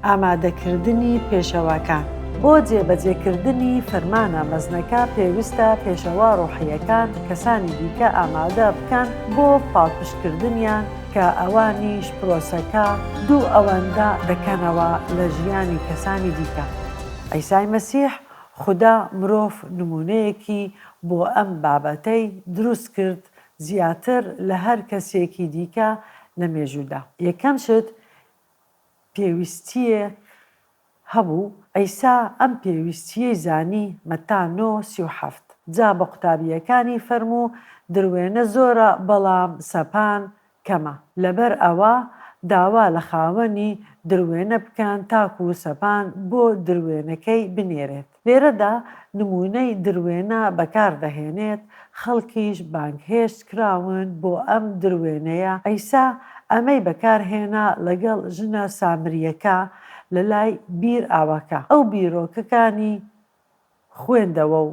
ئامادەکردنی پێشەواکان بۆ جێبەجێکردنی فەرمانە مەزنەکە پێویستە پێشەوا ڕۆحییەکان کەسانی دیکە ئامادە بکەن بۆ پاڵپشتکردنیان کە ئەوانیش پرۆسەکە دوو ئەوەندە دەکەنەوە لە ژیانی کەسانی دیکە. عیسای مەسیح، خودا مرۆڤ نموونەیەکی بۆ ئەم بابەتەی دروست کرد زیاتر لە هەر کەسێکی دیکە لە مێژوودا. یەکەم شت پێویستییە هەبوو، عیسا ئەم پێویستییەی زانی، مەتا نۆ، سی و حەفت. جا بە قوتابییەکانی فەرموو، دروێنە زۆرە، بەڵام سەپان کەمە، لەبەر ئەوە داوا لە خاوەنی دروێنە بکەن تاکوو سەپان بۆ دروێنەکەی بنێرێت. لێرەدا نموونەی دروێنە بەکار دەهێنێت، خەڵکیش بانگهێشت کراون بۆ ئەم دروێنەیە، عیسا ئەمەی بەکار هێنا لەگەڵ ژنە سامرییەکە لە لای بیر ئاوەکە، ئەو بیرۆکەکانی خوێندەوە و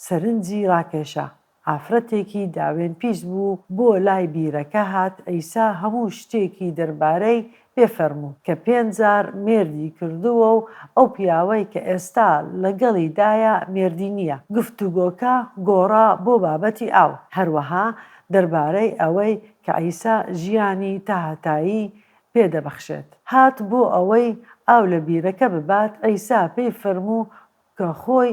سەرنجی ڕاکێشا، ئافرەتێکی داوێن پیس بوو بۆ لای بیرەکە هات عیسا هەموو شتێکی دەربارەی پێ فەرموو کە پێنج جار مێردی کردووە و ئەو پیاوەی کە ئێستا لەگەڵی دایە مێردی نییە گفتوگۆکە گۆڕا بۆ بابەتی ئاو هەروەها دەربارەی ئەوەی کە عیسا ژیانی تاهەتایی پێ دەبەخشێت هات بۆ ئەوەی ئاو لە بیرەکە ببات عیسا پێی فەرموو کە خۆی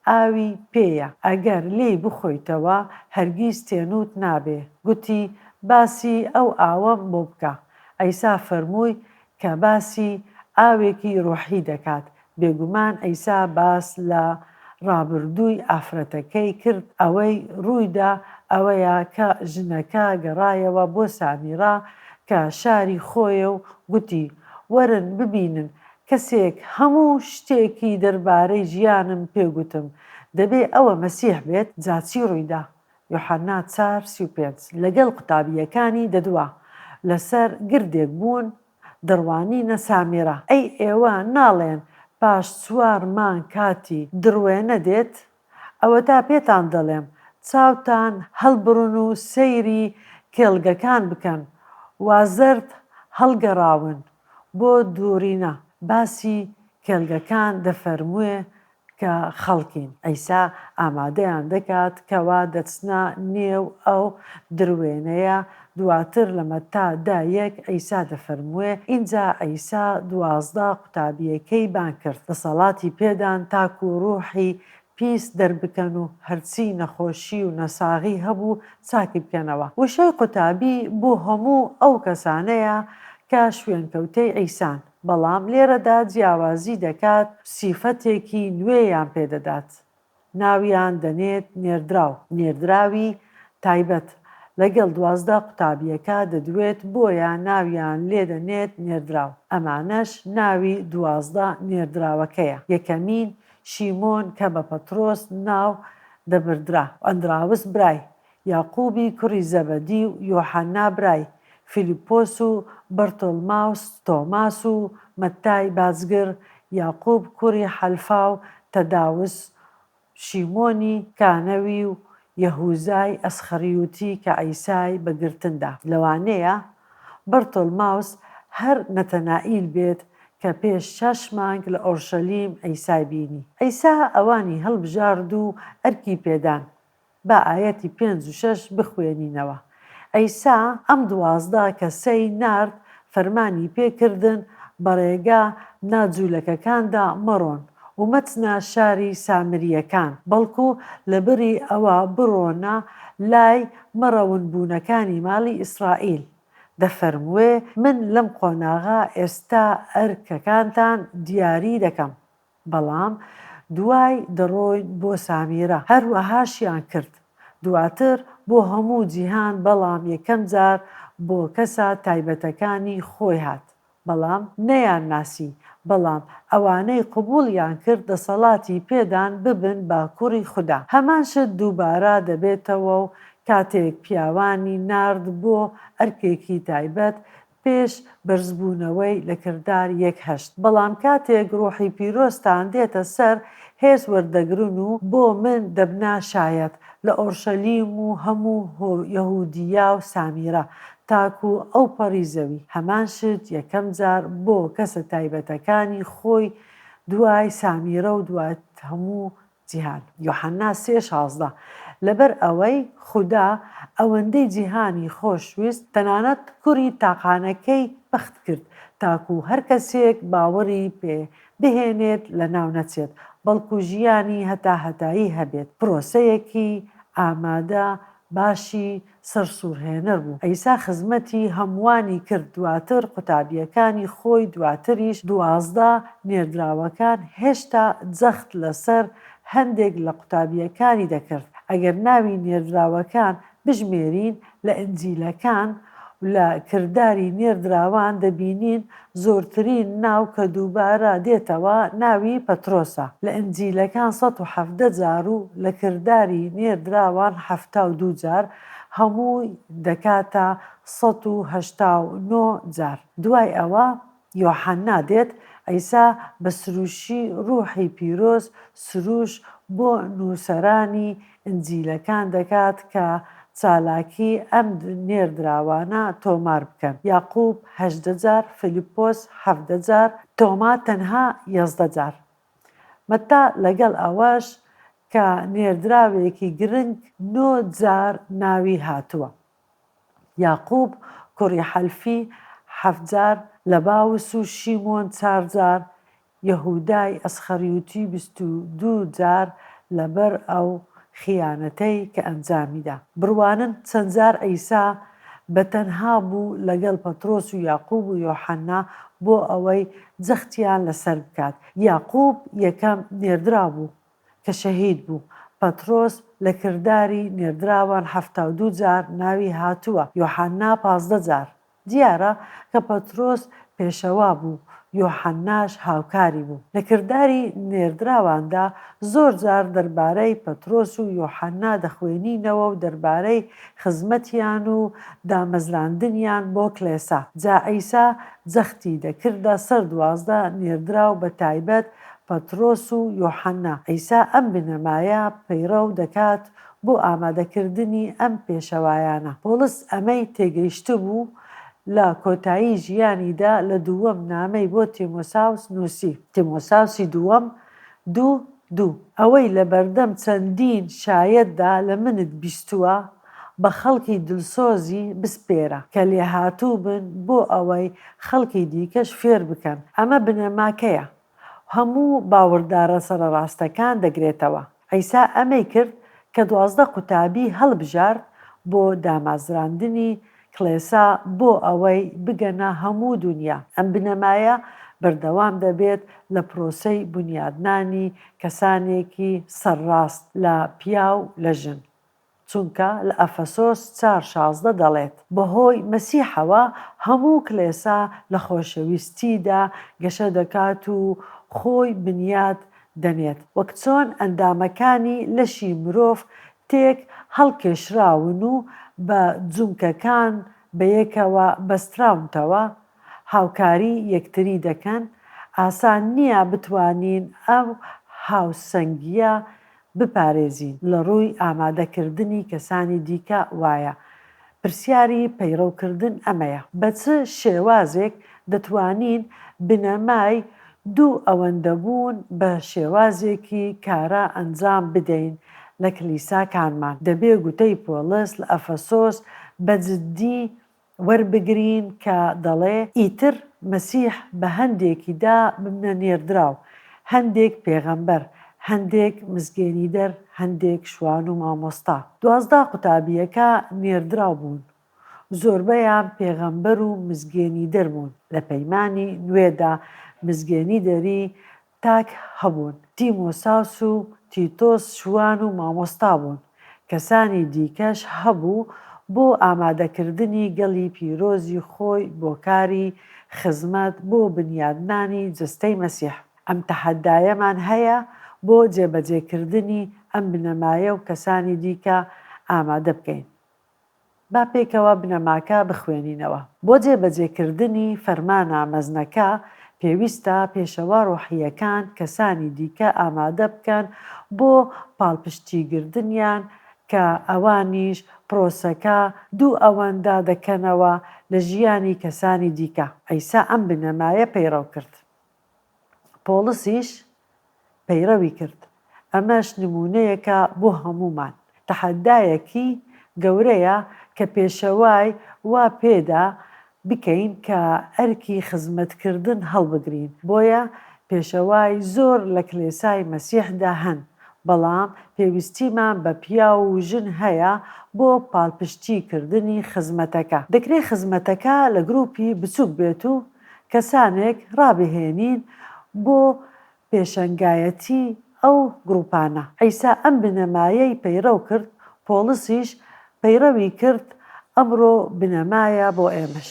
ئاوی پێیە ئەگەر لێی بخۆیتەوە هەرگیز تێنووت نابێ، گوتی، باسی ئەو ئاوەم بۆ بکە. عیسا فەرمووی کە باسی ئاوێکی ڕۆحی دەکات. بێگومان عیسا باس لە ڕابردووی ئافرەتەکەی کرد، ئەوەی ڕوویدا ئەوەیە کە ژنەکە گەڕایەوە بۆ سامیڕا کە شاری خۆیە و گوتی، وەرن ببینن کەسێک هەموو شتێکی دەربارەی ژیانم پێ گوتم، دەبێ ئەوە مەسیح بێت، جا چی ڕووی دا؟ یوحەنا چار سی و پێنج لەگەڵ قوتابییەکانی دەدوا، لەسەر گردێک بوون، دەڕوانینە سامێرا. ئەی ئێوە ناڵێن پاش چوار مانگ کاتی دڕوێنە دێت؟ ئەوەتا پێتان دەڵێم چاوتان هەڵبڕن و سەیری کێڵگەکان بکەن وا زەرد هەڵگەڕاون بۆ دووڕینا باسی کێڵگەکان دەفەرمووێ کە خەڵکین عیسا ئامادەیان دەکات کەوا دەچنە نێو ئەو دروێنەیە دواتر لە مەتا دە یەک عیسا دەفەرمووێ، ئینجا عیسا دوازدە قوتابییەکەی بانگ کرد، دەسەڵاتی پێدان تاکو روحی پیس دەربکەن و هەرچی نەخۆشی و نەساغی هەبوو چاکی بکەنەوە. وشەی قوتابی بۆ هەموو ئەو کەسانەیە کە شوێنکەوتەی عیسان، بەڵام لێرەدا جیاوازی دەکات سیفەتێکی نوێیان پێدەدات، ناویان دەنێت نێردراو، نێردراوی تایبەت، لەگەڵ دوازدە قوتابییەکە دەدوێت بۆیە ناویان لێ دەنێت نێردراو، ئەمانەش ناوی دوازدە نێردراوەکەیە، یەکەمین، شیمۆن کە بە پەترۆس ناو دەبردرا، ئەندراوس برای، یاقوبی کوڕی زەبەدی و یۆحەنا برای، فیلیپۆس و بەرتۆڵماوس، تۆماس و مەتتای بازگر، یاقوب کوڕی حەلفا و تەداوس، شیمۆنی کانەوی و یەهوزای ئەسخەریوتی کە عیسای بە گرتن دا. لەوانەیە بەرتۆڵماوس هەر نەتەنائیل بێت کە پێش شەش مانگ لە ئۆرشەلیم عیسای بینی. عیسا ئەوانی هەڵبژارد و ئەرکی پێدان، با ئایەتی پێنج و شەش بخوێنینەوە، عیسا ئەم دوازدە کەسەی نارد، فەرمانی پێ کردن، بە ڕێگا نا جوولەکەکاندا مەڕۆن و مەچنە شاری سامرییەکان، بەڵکو لە بری ئەوە بڕۆنە لای مەڕەونبوونەکانی ماڵی ئیسرائیل. دەفەرمووێ، من لەم قۆناغە ئێستا ئەرکەکانتان دیاری دەکەم. بەڵام دوای دەڕۆین بۆ سامیرە هەروەهاشیان کرد دواتر بۆ هەموو جیهان بەڵام یەکەم جار بۆ کەسە تایبەتەکانی خۆی هات بەڵام نەیان ناسی بەڵام ئەوانەی قبوڵیان کرد دەسەڵاتی پێدان ببن بە کوڕی خودا هەمان شت دووبارە دەبێتەوەو کاتێک پیاوانی نارد بۆ ئەرکێکی تایبەت پێش بەرزبوونەوەی لە کردار یەک هەشت بەڵام کاتێک ڕوحی پیرۆزتان دێتە سەر هێز وەردەگرن و بۆ من دەبنە شایەت لە ئۆرشەلیم و هەموو یەهودیە و سامیرە تاکو ئەوپەڕی زەوی هەمان شت یەکەم جار بۆ کەسە تایبەتەکانی خۆی دوای سامیرە و دوای هەموو جیهان، یۆحەنا سێ شازدە، لەبەر ئەوەی خودا ئەوەندەی جیهانی خۆش ویست تەنانەت کوڕی تاقانەکەی بەخت کرد تاکو هەر کەسێک باوەڕی پێ بهێنێت لەناو نەچێت بەڵکو ژیانی هەتا هەتایی هەبێت پرۆسەیەکی ئامادە باشی سەر سورهێنەر بوو عیسا خزمەتی هەمووانی کرد دواتر قوتابیەکانی خۆی دواتریش دوازدە نێردراوەکان هێشتا جەخت لەسەر هەندێک لە قوتابیەکانی دەکرد ئەگەر ناوی نێردراوەکان بژمێرین لە ئنجیلەکان و لە کرداری نێردراوان دەبینین زۆرترین ناو کە دووبارە دێتەوە ناوی پەترۆسە لە ئینجیلەکان سەد و حەڤدە جار و لە کرداری نێردراوان حەفتا و دوو جار هەمووی دەکاتە سەد و هەشتا و نۆ جار دوای ئەوە یۆحەنا دێت عیسا بە سروشی روحی پیرۆز سروش بۆ نووسەرانی ئینجیلەکان دەکات کە چالاکی ئەم نێردراوانە تۆمار بکەن، یاقوب هەژدە جار، فیلیپۆس حەڤدە جار، تۆما تەنها یازدە جار. مەتا لەگەڵ ئەوەش کە نێردراوێکی گرنگ نۆ جار ناوی هاتووە. یاقوب کوڕی حەلفی حەفت جار، لەباوس و شیمۆن چار جار، یەهودای ئەسخەریوتی بیست و دوو جار لەبەر ئەو خیانەتەی کە ئەنجامیدا. بڕوانن چەند جار عیسا بە تەنها بوو لەگەڵ پەترۆس و یاقوب و یۆحەنا بۆ ئەوەی جەختیان لەسەر بکات. یاقوب یەکەم نێردراو بوو کە شەهید بوو. پەترۆس لە کرداری نێردراوان حەفتا و دوو جار ناوی هاتووە. یۆحەنا پازدە جار. دیارە کە پەترۆس پێشەوا بوو، یۆحەنناش هاوکاری بوو. لە کرداری نێردراواندا زۆر جار دەربارەی پەترۆس و یۆحەننا دەخوێنینەوە و دەربارەی خزمەتیان و دامەزراندنیان بۆ کڵێسا. جا عیسا جەختی دەکردە سەر دوازدە نێردراو بە تایبەت پەترۆس و یۆحەننا. عیسا ئەم بنەمایە پەیڕەو دەکات بۆ ئامادەکردنی ئەم پێشەوایانە. پۆڵس ئەمەی تێگەیشتبوو لە کۆتایی ژیانیدا لە دووەم نامەی بۆ تیمۆساوس نووسی، تیمۆساوسی دووەم، دوو، دوو، ئەوەی لە بەردەم چەندین شایەتدا لە منت بیستووە بە خەڵکی دلسۆزی بسپێرە کە لێهاتوو بن بۆ ئەوەی خەڵکی دیکەش فێر بکەن. ئەمە بنەماکەیە. هەموو باوەڕدارە سەرەڕاستەکان دەگرێتەوە. عیسا ئەمەی کرد کە دوازدە قوتابی هەڵبژارد بۆ دامازراندنی کڵێسا بۆ ئەوەی بگەنە هەموو دونیا. ئەم بنەمایە بەردەوام دەبێت لە پرۆسەی بونیادنانی کەسانێکی سەرڕاست لە پیاو لە ژن. چونکە لە ئەفەسۆس چار شازدە دەڵێت، بەهۆی مەسیحەوە هەموو کڵێسا لە خۆشەویستیدا گەشە دەکات و خۆی بنیات دەنێت، وەک چۆن ئەندامەکانی لەشی مرۆڤ تێک هەڵکێشراون و بە جومکەکان بەیەکەوە بەستراونتەوە هاوکاری یەکتری دەکەن، ئاسان نییە بتوانین ئەو هاوسەنگییە بپارێزین لە ڕووی ئامادەکردنی کەسانی دیکە وایە پرسیاری پەیڕەو کردن ئەمەیە بە چ شێوازێک دەتوانین بنەمای دوو ئەوەندە بوون بە شێوازێکی کارا ئەنجام بدەین لە کلیساکانمان دەبێ گوتەی پۆڵس لە ئەفەسۆس بە جدی وەربگرین کە دەڵێ، ئیتر مەسیح بە هەندێکی دا ببنە نێردراو، هەندێک پێغەمبەر، هەندێک مزگێنیدەر، هەندێک شوان و مامۆستا. دوازدە قوتابییەکە نێردراو بوون، زۆربەیان پێغەمبەر و مزگێنیدەر بوون، لە پەیمانی نوێدا مزگێنیدەری تاک هەبوون، تیمۆساوس و تیتۆس شوان و مامۆستا بوون، کەسانی دیکەش هەبوو بۆ ئامادەکردنی گەلی پیرۆزی خۆی بۆ کاری خزمەت بۆ بنیادنانی جەستەی مەسیح. ئەم تەحەدایەمان هەیە بۆ جێبەجێکردنی ئەم بنەمایە و کەسانی دیکە ئامادە بکەین. با پێکەوە بنەماکە بخوێنینەوە. بۆ جێبەجێکردنی فەرمانە مەزنەکە، پێویستە پێشەوا ڕۆحییەکان کەسانی دیکە ئامادە بکەن بۆ پاڵپشتیگردنیان کە ئەوانیش پرۆسەکە دوو ئەوەندە دەکەنەوە لە ژیانی کەسانی دیکە. عیسا ئەم بنەمایە پەیڕەو کرد. پۆڵسیش پەیڕەوی کرد. ئەمەش نموونەیەکە بۆ هەموومان. تەحەدایەکی گەورەیە کە پێشەوای وا پێدا بکەین کە ئەرکی خزمەتکردن هەڵبگرین. بۆیە پێشەوای زۆر لە کلێسای مەسیحدا هەن، بەڵام پێویستیمان بە پیاو و ژن هەیە بۆ پاڵپشتیکردنی خزمەتەکە. دەکرێت خزمەتەکە لە گروپی بچووک بێت و کەسانێک ڕابهێنین بۆ پێشەنگایەتی ئەو گروپانە. عیسا ئەم بنەمایەی پەیڕەو کرد، پۆڵسیش پەیڕەوی کرد، ئەمڕۆ بنەمایە بۆ ئێمەش.